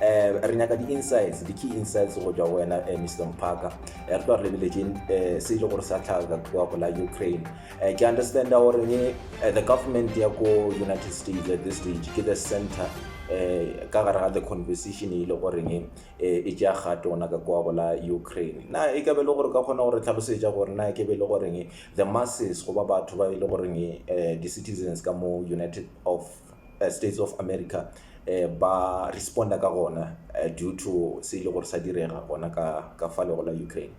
um re nyaka di-insights di-key insights go tšwa go wena um miss lomphaka re tlo re lebeletseng um se e le gore sa tlhaga ka go la ukraine um ke understanda gore ne the government ya ko united states at this stage ke the center um ka gare ga the conversation e le goreng um e tšea gato gona ka kwa go la ukraine na e ka be le gore ka kgona gore tlhalosetša gore na ke be le goreng the masses goba batho ba e le goreng um di-citizens ka mo united of eh, States of America eh, ba responda ka gona eh, due to se ile gore sa direga gona ka ka fa lego la Ukraine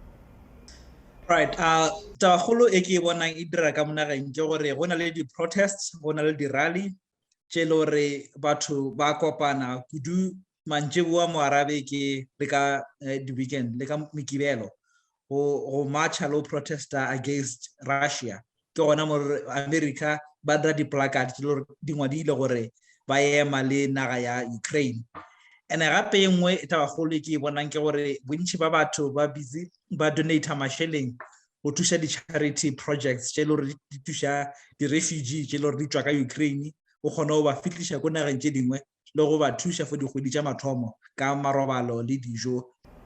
right a tabagolo e ke e bonang e dira ka monageng ke gore go na le di-protests go na le di-rally tše e le gore batho ba kopana kudu mantšeboa mo arabe ke le ka eh, the weekend le ka mekibelo go go marcha lo protesta against russia ke gona mo america ba dira di-placard tse lore di ngwadile gore ba ema le naga ya ukraine and gape e nngwe e tabagolo e ke e bonang ke gore bontšhi ba batho ba busy ba donata mašeleng go thuša di-charity projects tše e le gore di thuša di-refugee tše e le gore di tswa ka ukraine o kgone go ba fihliša ko nageng tše dingwe le go ba thuša for dikgwedi tša mathomo ka marobalo le dijo.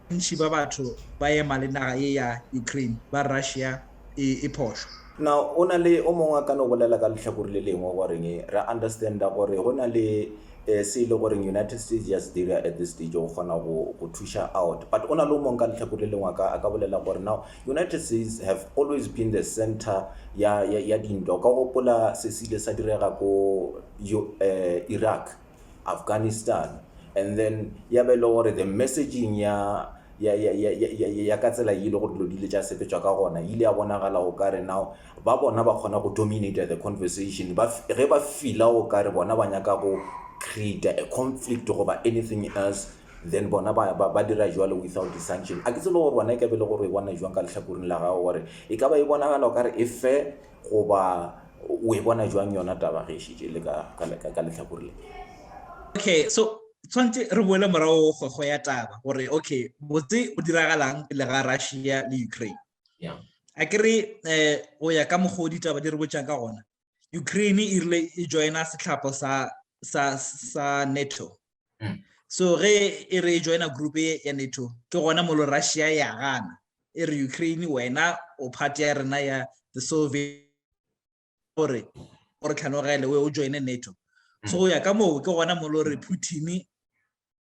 Bontši ba batho ba ema le naga ye ya Ukraine ba Russia e e phošo. Na go na le o mongwe a ka no bolela ka lehlakore le lengwe goreng re understanda gore go na le se e le goreng United States ya se dira at this stage go kgona go go thuša out? But go na le o mongwe ka lehlakore le lengwe a ka a ka bolela gore now United States have always been the center ya ya ya dintwa. O ka gopola se se ile sa direga ko yo uh, Iraq Afghanistan and then ya be e le gore the messaging ya ya ya ya ya ya ka tsela ile go dilo dile tša sepetswa ka gona ile ya bonagala o ka re now ba bona ba kgona go dominate the conversation ba ge ba fila o ka re bona ba nyaka go create a conflict goba anything else then bona ba ba, ba dira jwalo without distinction a ke tsele gore bona e ka be le gore e bona jwang ka letlhakoring la gago gore e ka ba e bonagala o ka re e fair Goba o e bona bjang yona taba ge e šetše e le ka, ka, ka, ka lehlakore le? Okay, so tshwanetse re boele morago go, go ya taba, gore, okay, botse go diragalang pele ga Russia le Ukraine? Yeah. A ke re, eh, go ya ka mokgwa o ditaba di re botšang ka gona, Ukraine e rile e joina setlhapho sa, sa, sa NATO. so ge e re e joina group e ya nato ke gona molo russia ya gana e re ukraine wena o part ya rena ya the soviet gore o re tlhanogele we o joine nato so go ya ka moo ke gona molo re putin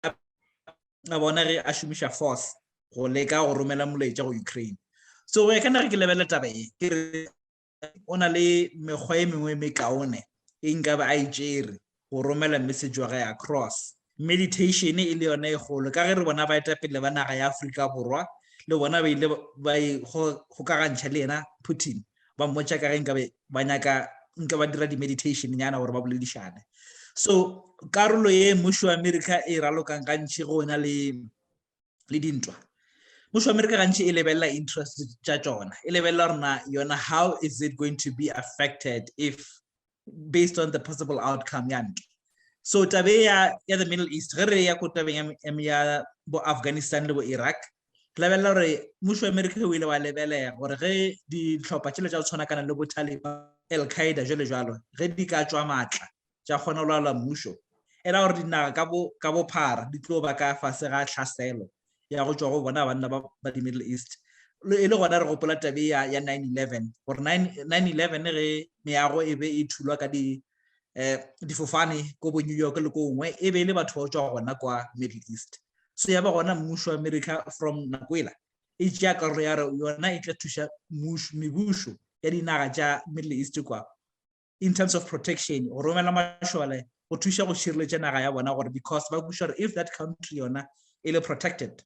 a bona ge a šomiša force go leka go romela molaetša go ukraine so go ya ka nage ke lebele taba e ke re o na le mekgwa e mengwe e mekaone e nkabe a e tšere go romela message wa gae across meditation e le yone e golo ka ge re bona ba etapele ba naga ya aforika borwa le bona ba ile ba e gokagantšha le yena putin ba mmotša ka ge nkabe ba nyaka nka ba dira di-meditation nyana gore ba boledišane so karolo ye mmušo wa america e ralokang gantši go na le le dintwa mmušo wa amerika gantši e lebelela interest tša tšona e lebelela rona yona how is it going to be affected if based on the possible outcome ya ntwa so tabe ya ya the middle east ge re ya ko tabeng ya ya bo afghanistan le bo iraq re lebelela gore mmušo wa amerika o ile wa lebelega gore ge ditlhopha tšelo tša go tshwana kana le bo taliban al qaeda jalo jalo ge di ka tswa maatla tša kgona go laola mmušo, e ra gore dinaga ka bo, ka bophara di tlo ba ka fase ga tlhaselo ya go tšwa go bona banna ba, ba di-Middle East. Le, e le gona re gopola tabe ya, ya 9-11, gore 9, 9-11 ge meago e be e thulwa ka di, eh, difofane ko bo New York le ko gongwe, e be e le batho ba go tšwa gona kwa Middle East. So ya ba gona mmušo wa America from nako ela e tšea karolo ya re yona e tla thuša mmušo, mebušo ya dinaga tša Middle East kwa in terms of protection go romela mašole go thuša go šireletša naga ya bona gore because ba kuša gore if that country yona e le protected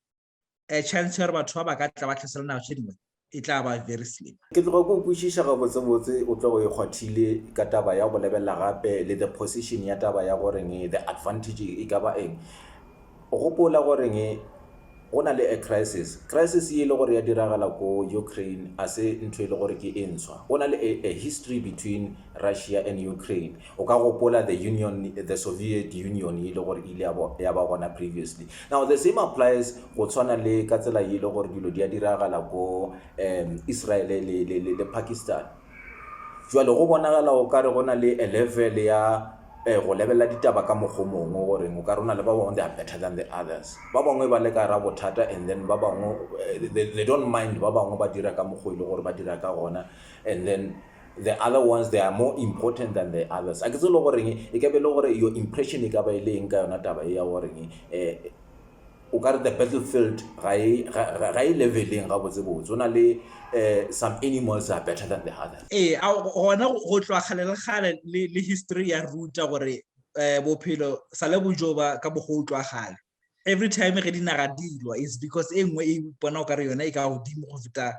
a chance ya gore batho ba ba ka tla ba tlhasela naga tše dingwe e tla ba very slim ke tloga ko kwešiša gabotsebotse o tlo go e kgwathile ka taba ya go lebelela gape le the position ya taba ya goreng the advantage e ka ba eng O gopola goreng go na le a crisis? Crisis ye e le gore ya diragala ko Ukraine a se ntho e le gore ke e ntshwa. Go na le a, a history between Russia and Ukraine. O ka gopola the Union, the Soviet Union ye e le gore e ile ya ba, ya ba gona previously. Now the same applies go tshwana le ka tsela ye e le gore dilo di a diragala ko um Israel le, le, le, le Pakistan. Bjale go bonagala o ka re go na le a level ya go lebelela ditaba ka mokgwa o mongwe gore o ka re o na le ba bangwe they are better than the others. Ba bangwe ba le ka gare ga bothata and then ba bangwe they don't mind ba bangwe ba dira ka mokgwa o e leng gore ba dira ka gona and then the other ones they are more important than the others. A ke tsebe le goreng e ka be e le gore your impression e ka ba e le eng ka yona taba e ya goreng um O ka re the battlefield ga e, ga, ga, ga e leveleng gabotsebotse. Go na le eh, some animals are better than the others. Ee, a gona go tloga kgale le kgale le, le history ya ruta gore eh, bophelo sa le bo joba ka mokgwa o tloga kgale. Every time ge dinaga di lwa is because e nngwe e ipona o ka re yona e ka godimo go feta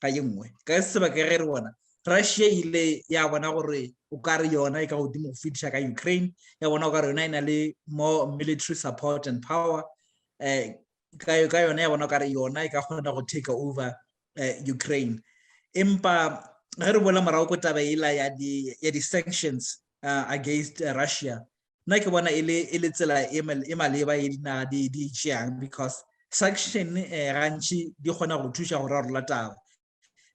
ka ye nngwe ka se ba ke re re bona Russia e ile ya bona gore o ka re yona e ka godimo go fetiša ka Ukraine ya bona o ka re yona e na le more military support and power eh ka ka yona ya bona o ka re yona e ka kgona go take over eh, Ukraine empa ge re bola morago ko taba ela ya di ya di sanctions uh, against uh, Russia nna ke bona e le e le tsela e mal- e maleba e dinaga di di e tšeang because sanction eh, gantši di kgona go thuša go rarola taba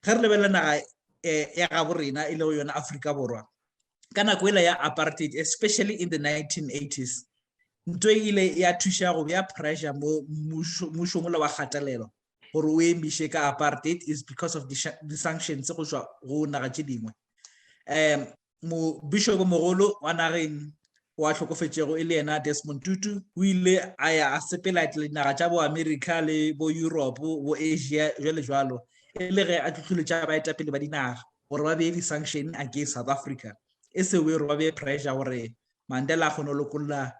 ge re lebelela naga eh, ya gabo rena e lego yona aforika borwa ka nako ela ya apartheid especially in the 1980s nto e ile ya thuša go bea pressure mo mmušo- mmušong ola wa kgatelelo gore o emiše ka apartheid is because of di-sha- di-sanctions go tšwa go naga tše dingwe um Mobišobomogolo wa nageng o a hlokofetšego e le yena Desmond Tutu o ile a ya a sepela etela dinaga tša boamerika le boyuropo boasia jalo jalo e le ge a tlutlhuletša baetapele ba dinaga gore ba bee di-sanction against south africa e se wero ba bee pressure gore mandela a kgone go lokolla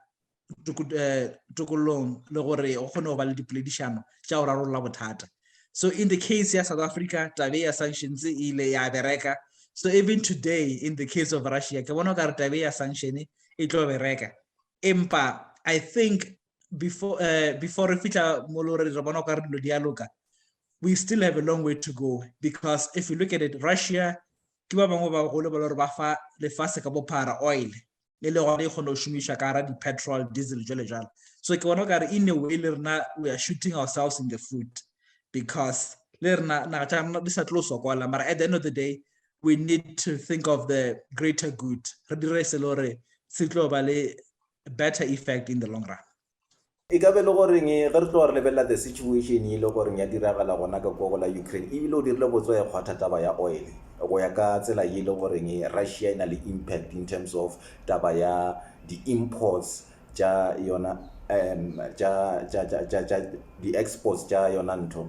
eh, tokolong le gore go kgone go ba le dipoledišano tša go rarolola bothata so in the case ya south africa tabe ya sanctions e ile ya bereka so even today in the case of russia ke bona o kare tabe ya sanction e tlo bereka empa i think before uh, before re fitlha mo le gore re bona o kare dilo di a loka we still have a long way to go because if you look at it russia ke ba bangwe ba golo ba le gore ba fa lefase ka bophara oil e le gona e kgone go šomišwa ka gara di-petrol diesel jale jalo so ke bona o kare in a way le rena we are shooting ourselves in the foot because le rena naga tša rena di sa tlo sokola mara at the end of the day we need to think of the greater good re dire se le gore se tlo ba le better effect in the long run E ka be e le goreng ge re tloga re lebelela the situation e le goreng ya diragala gona ka kwa go la Ukraine, ebile o dirile botswa e kgwatha taba ya oil go ya ka tsela ye e le goreng Russia e na le impact in terms of taba ya di imports tša yona um tša di exports tša yona ntho.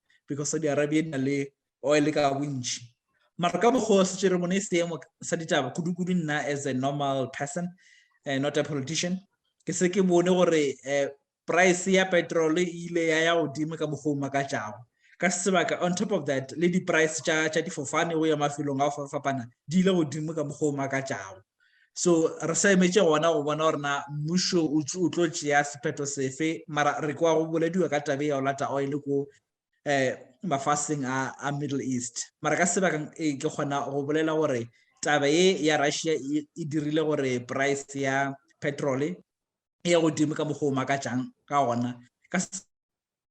because saudi arabia e na le oil ka bontši mara ka mokgwa o setse re bone e seemo sa ditaba kudu-kudu nna as a normal person uh, not a politician ke se ke bone gore uh, price ya petrol e ile ya ya godimo ka mokgwa o makatšago ka sebaka on top of that le di-price tša difofane go ya mafelong a go fapana di ile godimo ka mokgwa o makatšago so re sa emetše gona go bona gore na mmušo o tlo tšea sephetho sefe mara re kwa go bolediwa ka tabe ya go lata oil ko um eh, mafaseng a, a middle east mara ka sebakang e eh, ke kgona go bolela gore taba ye ya russia e, e dirile gore price ya petrol e ya godimo ka mokgwa o makatšang ka gona ka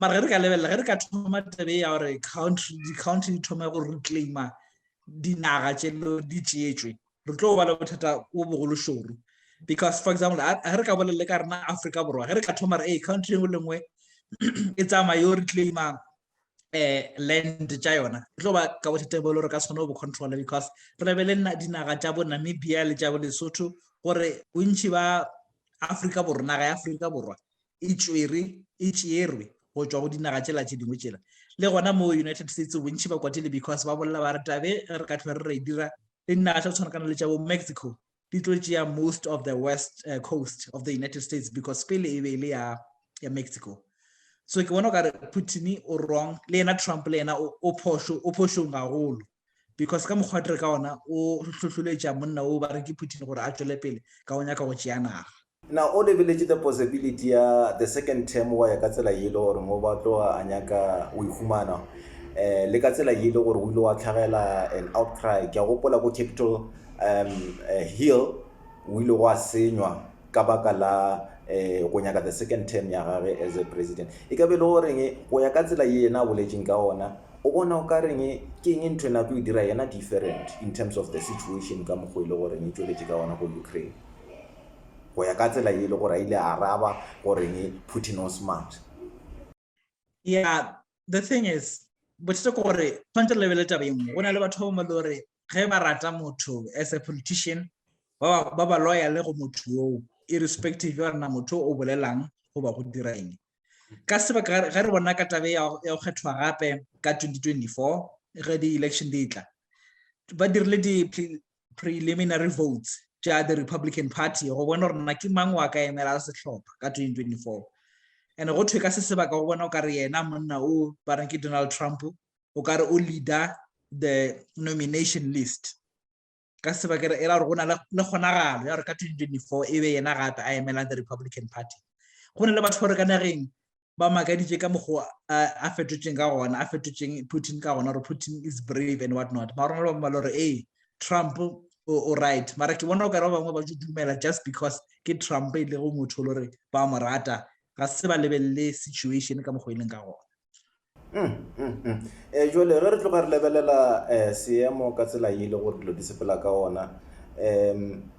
mara ge re ka lebelela ge re ka thoma tebe ya gore country di-country di thoma go reclaima dinaga tše di tšeetswe re tlo ba le bothata bo bogolo šoro because for example ge re ka bolelele ka rena africa borwa ge re ka thoma re ee country engwe le nngwe e tsamaya yo reclaima um land tša yona re tlo ba ka bothata bo le gore ka tshwane o bo controla because re lebele dinaga tša bo namibia le tša bo lesotho gore bontšhi ba africa borwa naga ya africa borwa e tšwere e tšeerwe go tšwa go dinaga tšela tše dingwe tšela le gona mo united states bontšhi ba kwatile because ba bolela ba re tabe re ka tlhwa re re dira le dinaga tša go tshwanakana le tša bo mexico di tlo tšea most of the west uh, coast of the united states because pele e be e le ya ya mexico so ke bona o kare putin o wrong le yena trump le yena o phošo o phošong gagolo because ka mokgwa tere ka ona o tlhotlholetša monna o ba re ke putin gore a tšwele pele ka o nyaka go tšea naga Na o lebeletše the possibility ya the second term wa ya ka tsela ye e le gore mo ba tloga a nyaka o ihumana um le ka tsela ye e le gore o ile wa tlhagela an outcry ke a gopola ko capital um eh, hill o ile go a senywa ka baka la um go nyaka the second term ya gage as a president e ka be e le goreng go ya ka tsela ye yena a boletseng ka ona o bona o ka reng ke eng ntho e nako e dira yena different in terms of the situation ka mokgwa e le goreng e tsweletše ka ona go ukraine go ya ka tsela ye e le gore a ile a araba goreng Putin o smart. Yeah the thing is bothata ke gore tshwanetse re lebelele taba e nngwe go na le batho ba bangwe le gore ge ba rata motho as a politician ba ba loyale go motho yoo irrespective ya gore na motho o bolelang goba go dira eng ka sebaka ge re bona ka tabe ya go kgethwa gape ka 2024 ge di-election di tla ba dirile preliminary votes tša the republican party go bona gore nna ke mang wa ka emela sehlopha ka 2024 and go thwe ka se sebaka go bona o ka re yena monna o ba reng ke donald trump o ka re o leader the nomination list ka se sebaka e ra gore go na le kgonagalo ya gore ka 2024 e be yena gape a emelang the republican party go ne le batho ba re ka nageng ba makaditše ka mokgwa a fetotšeng ka gona a fetotšeng putin ka gona gore putin is brave and what not mara rona ba bangwe gore ee trump o right mara ke bona o kare ba bangwe ba tso dumela just because ke trump e lego motho le gore ba mo rata ga se ba lebelele situation ka mokgwa e leng ka gona um mm, mm, mm. eh, jole ge re tloga re lebelela um seemo ka tsela e le gore dilo di sepela ka ona um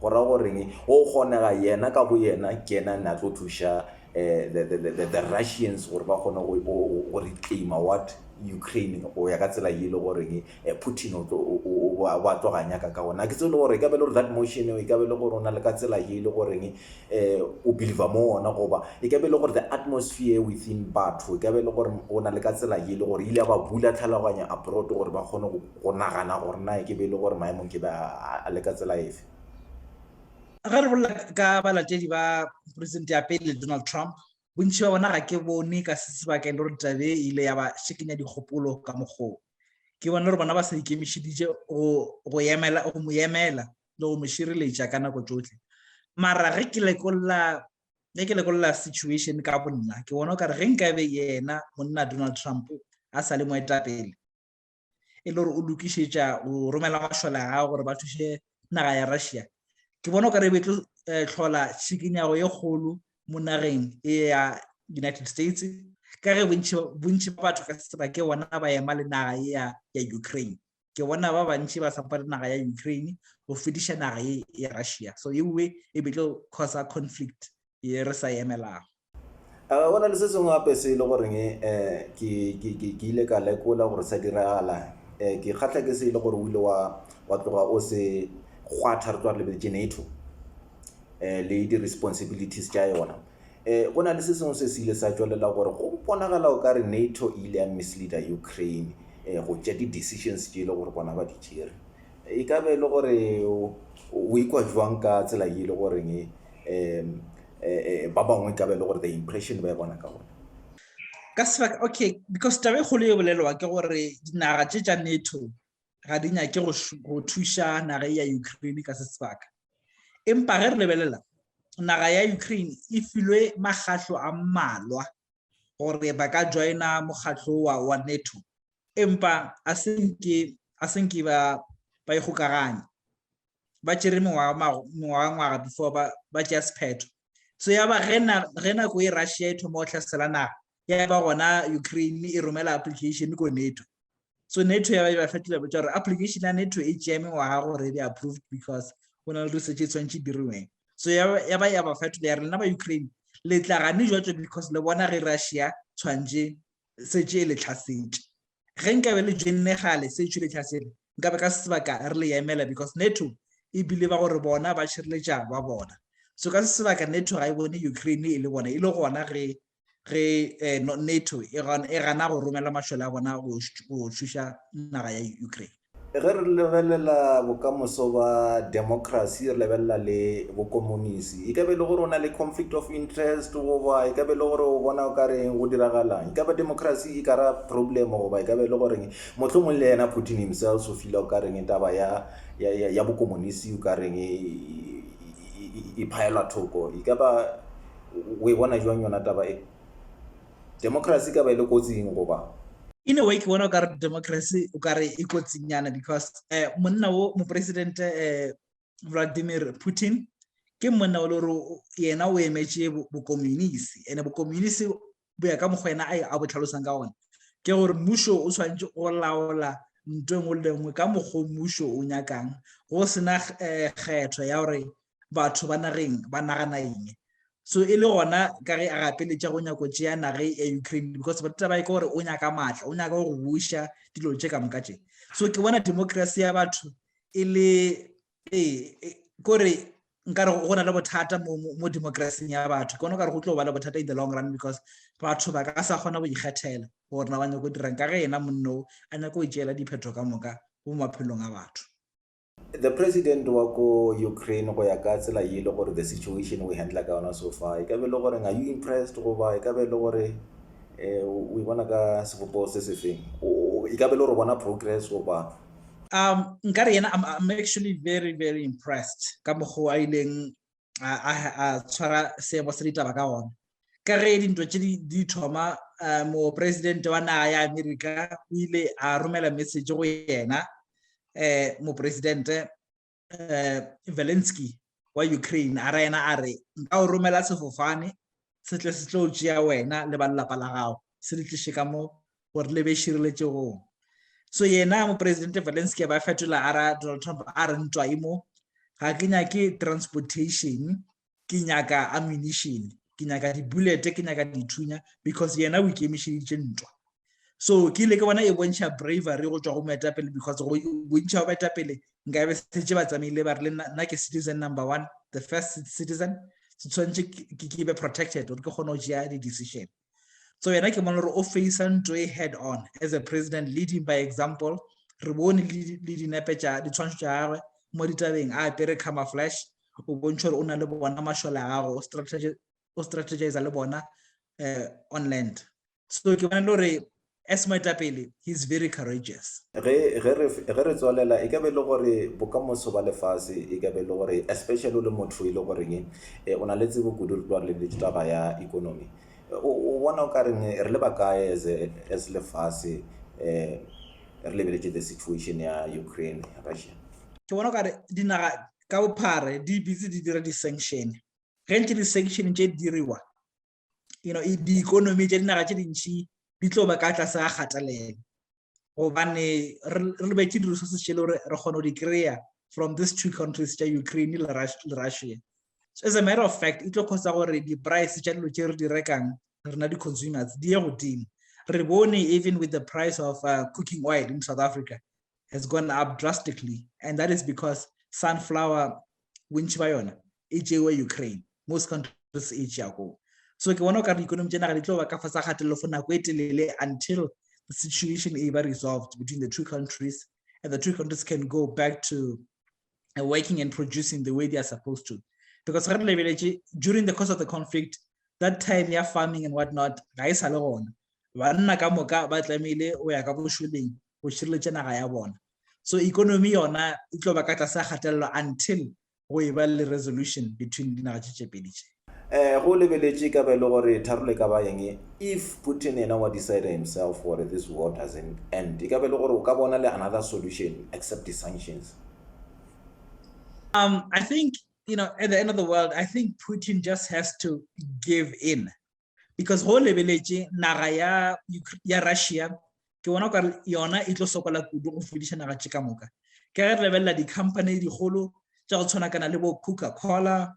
Go ra go reng? Go kgonega yena ka boyena ke yena a ne a tlo thuša the, the, the, the Russians gore ba kgone go, go, go reclaimer what? Ukraine go ya ka tsela ye e le go reng eh, Putin o tlo, o, o, o, o a tlo ga nyaka ka gona. Ga ke tsebe le gore e ka be le gore that motion eo e ka be le gore o na le ka tsela ye e le go reng eh, o believer mo ona goba e ka be le gore the atmosphere within batho e ka be le gore o na le ka tsela ye e le gore e ile ya ba bula tlhaloganyo abroad gore ba kgone go Go nagana gore na e ke be e le gore maemo nke be a le ka tsela efe? Ge re bolela ka balatedi ba Poresidente ya Pele Donald Trump, bontši bja bona ga ke bone ka se se baka e le gore taba ye e ile ya ba šikenya dikgopolo ka mokgwa wo. Ke bona gore bona ba sa ikemišeditše go go emela, go mo emela le go mo šireletša ka nako tšohle. Mara ge ke lekolla, ge ke lekolla situation ka bonna, ke bona o ka re ge nkabe yena monna Donald Trump a sa le moetapele, e le gore o lokišetša go romela mašole a gago gore ba thuše naga ya russia ke bona o ka re be tlo eh, tlhola tšhikinyago ye kgolo mo nageng e ya united states ka ge bontši ba batho ka seba ke bona ba ema le naga e ya ya ukraine ke bona ba bantši ba sapa le naga ya ukraine go fediša naga e ya russia so ewe e be tlo causa conflict ye re sa emelago Uh, go na le se sengwe gape se e le goreng um ke ile ka lekola gore sa diragala um ke kgatlha ke se e le gore o ile wa tloga o se kgwatha re tlo re lebeletse nato um le di-responsibilities tša yona um go na le se sengwe se se ile sa tswelela gore go bonagala o ka re nato e ile ya misleader ukraine um go tša di-decisions tše e le gore bona ba di tšere E ka be e le gore o ikwa jwang ka tsela ye e le goreng um ba bangwe e ka be e le gore the impression ba e bona ka gona? Ka sebaka, okay, because taba e kgolo e bolelwa ke gore dinaga tše tša NATO ga di nyake go thuša naga ya Ukraine ka se sebaka. Empa ge re lebelela, naga ya Ukraine e filwe makgatlo a mmalwa gore ba ka joina mokgatlo wa NATO. empa a se nke a se nke ba ba ikgokaganya ba tšere mengwagangwaga before ba ba tšea sephetho so ya ba ge nako e russia e thoma go tlhasela naga ya ba gona ukraine e romela application ko nato so nato ya ba e ba fa dilabo tša gore application ya nato e tšea mengwaga gore e be approved because go na le research e tshwanetse diriweng so ya ba ya ba fetola ya rena ba ukraine le tla gane jwa tso because le bona ge russia tshwanetse setše e le tlhasetše. Ge nkabe le joinne kgale setšo e le tlhasele, nkabe ka se sebaka re le emela because NATO e believa gore bona ba šireletša ba bona. So ka se sebaka NATO ga e bone Ukraine e le bona, e le gona ge ge eh, no, NATO e, e gana go romela mašole a bona go, go šuša naga ya Ukraine. Ge re lebelela bokamoso ba democracy, re lebelela le bokomonisi, e ka be e le gore o na le conflict of interest goba e ka be e le gore o bona o ka reng go diragalang. E ka ba democracy e ka ra problem goba e ka be e le goreng mohlomong le yena Putin himself o fila o ka reng taba ya, ya, ya, ya bokomonisi o ka reng e, e, e, e phaelwa thoko. E ka ba o e bona jwang yona taba e? Democracy e ka ba e le kotsing goba? In a way ke bona o kare democracy o kare e kotsing nyana because eh, monna wo mopresidente eh, Vladimir Putin ke monna o le gore yena o emetše bokomunisi ene bokomunisi bo ya ka mokgwa ena a bo tlhalosang ka gona ke gore mmušo o tshwanetse go laola nto engwe le engwe ka mokgwa mmušo o nyakang go sena eh, kgetho ya gore batho ba nageng ba nagana eng so e le gona ka ge a gapeletša go nyako tšea nage ya ukraine because bataba e ka gore o nyaka maatla o nyaka go buša dilo tše ka moka tše so ke bona democracy ya batho e le ee e, kore nkare go na le bothata mo, mo democracing ya batho ke gona kare go tlo ba le bothata in the long run because batho ba ka sa kgona go ikgethela gore na ba nyako dirang ka ge ena monno a nyako o tšeela diphetho ka moka mo maphelong a batho The president wa ko Ukraine go ya ka tsela ye le gore the situation we handle ka yona so far e ka be le gore are you impressed goba e ka be le gore eh we bona ka sebopego se sefeng e ka be le gore bona progress goba um nkare yena I'm, I'm actually very very impressed ka mokgwa a ileng a tshwara seemo sa ditaba ka gona ka ge dintwa tše di thoma um moporesidente wa naga ya amerika o ile a romela message go yena um moporesidente um valensky wa ukraine a ra yena a re nka o romela sefofane se tle se tlo tšea wena le ba lelapa la gago se le tliše ka mo gore le be šireletšegong so yena moporesidente valensky a ba fetola a ra donald trump a re ntwa e mo ga ke nyake transportation ke nyaka ammunition ke nyaka dibulete ke nyaka dithunya because yena o ikemišeditše ntwa so ke ile ke bona e bontšha bravery go tšwa go moetapele because go bontšha ba baetapele nka be setse ba tsamaile ba re le nna ke citizen number one the first citizen se tshwanetse ke be protected gore ke kgone go tšea di-decision so yena ke bona gore o face ntho e head on as a president leading by example re bone le dinepe tša ditshwantsho tša gagwe mo ditabeng a apere cama flash o bontšha gore o na le bona mašole a gago o strategize le bona um on land so ke bona le gore as moetapele he is very courageous ge ge re ge re tswalela e ka be le gore bokamoso ba lefase e ka be le gore especially o le motho e le goreng e o na le tsebo kudu re tloa re lebeletse taba ya economy o bona o ka reng re le ba kae as as lefase um re lebeletse the situation ya ukraine russia ke bona o ka re dinaga ka bophare di bitse di dira di-sanction ge ntse di-sanction tše di diriwa you know di-economy tša dinaga tše dintšhi di tlo ba ka tlase ga kgatelelo gobane re be ke di-resources tše le gore re kgone go di kry-a from these two countries tša ukraine le russia so as a matter of fact e tlo kgotsa gore di-price tša dilo tše re di rekang rena di-consumers di ye godimo re bone even with the price of uh, cooking oil in south africa has gone up drastically and that is because sunflower bontšhi ba yona e tšewe Ukraine most countries e tšea koo so ke bona o ka re economy tšena ga di tlo ba ka fa sa gatelelo for nako e telele until the situation e ba resolved between the two countries and the two countries can go back to uh, working and producing the way they are supposed to because re lebeletše during the course of the conflict that time ya farming and whatnot ga e sa le gona banna ka moka ba tlamehile o ya ka bošoleng go šireletša naga ya bona so economy yona e tlo ba ka tlase a kgatelelo until go e ba le resolution between dinaga tše tše pedi tše. Eh, go lebeletše e ka ba e le gore tharolo e ka ba eng if Putin yena wa decide himself gore this war doesn't end, e ka ba e le gore o ka bona le another solution except di sanctions? Um, I think, you know, at the end of the world, I think Putin just has to give in. because go lebeletše naga ya ya russia ke bona ka yona e tlo sokola kudu go fodiša naga tše ka moka ke ge re lebelela di-company digolo tša go tshwana kana le bo coca cola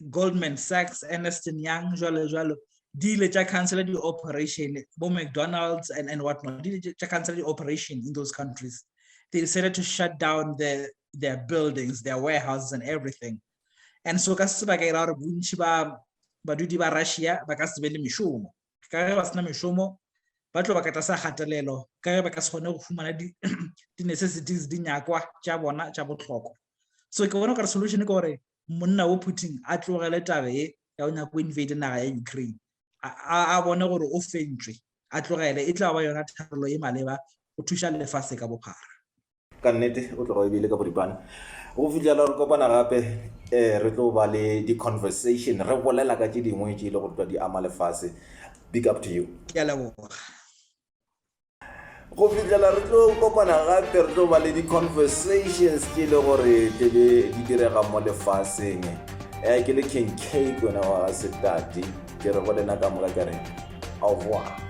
goldman sachs anderston young jalo jalo di ile tša cancela di-operation bo mcdonald's and, and what not di ile tša cancela di-operation in those countries they decided to shut down their, their buildings their warehouses and everything and so ka se ba ka ira gore bontši ba badudi ba russia ba ka se be le mešomo ka ge ba sena mešomo ba tlo ba ka tlase kgatelelo ka ge ba ka se kgone go fumana di-necessities di nyakwa tša bona tša botlhokwa so ke bona gore solution ke gore monna wo putin a tlogele tabe e ya go nyaka go invade naga ya ukraine a bone gore o fentswe a tlogele e tla ba yona tharelo e maleba go thuša lefase ka bophara ka nnete o tloga o ebile ka boripana go fitlhela re kopana gape um re tlo ba le di-conversation re bolela ka tše dingwe tše e le gore twa di ama lefase big up to you go fitlhela re tlo kopana gape re tlo ba le di-conversations tše e le gore tlebe di direga mo lefaseng um ke le king cake wena wa ga setati ke re go lena ka moka ke re aowa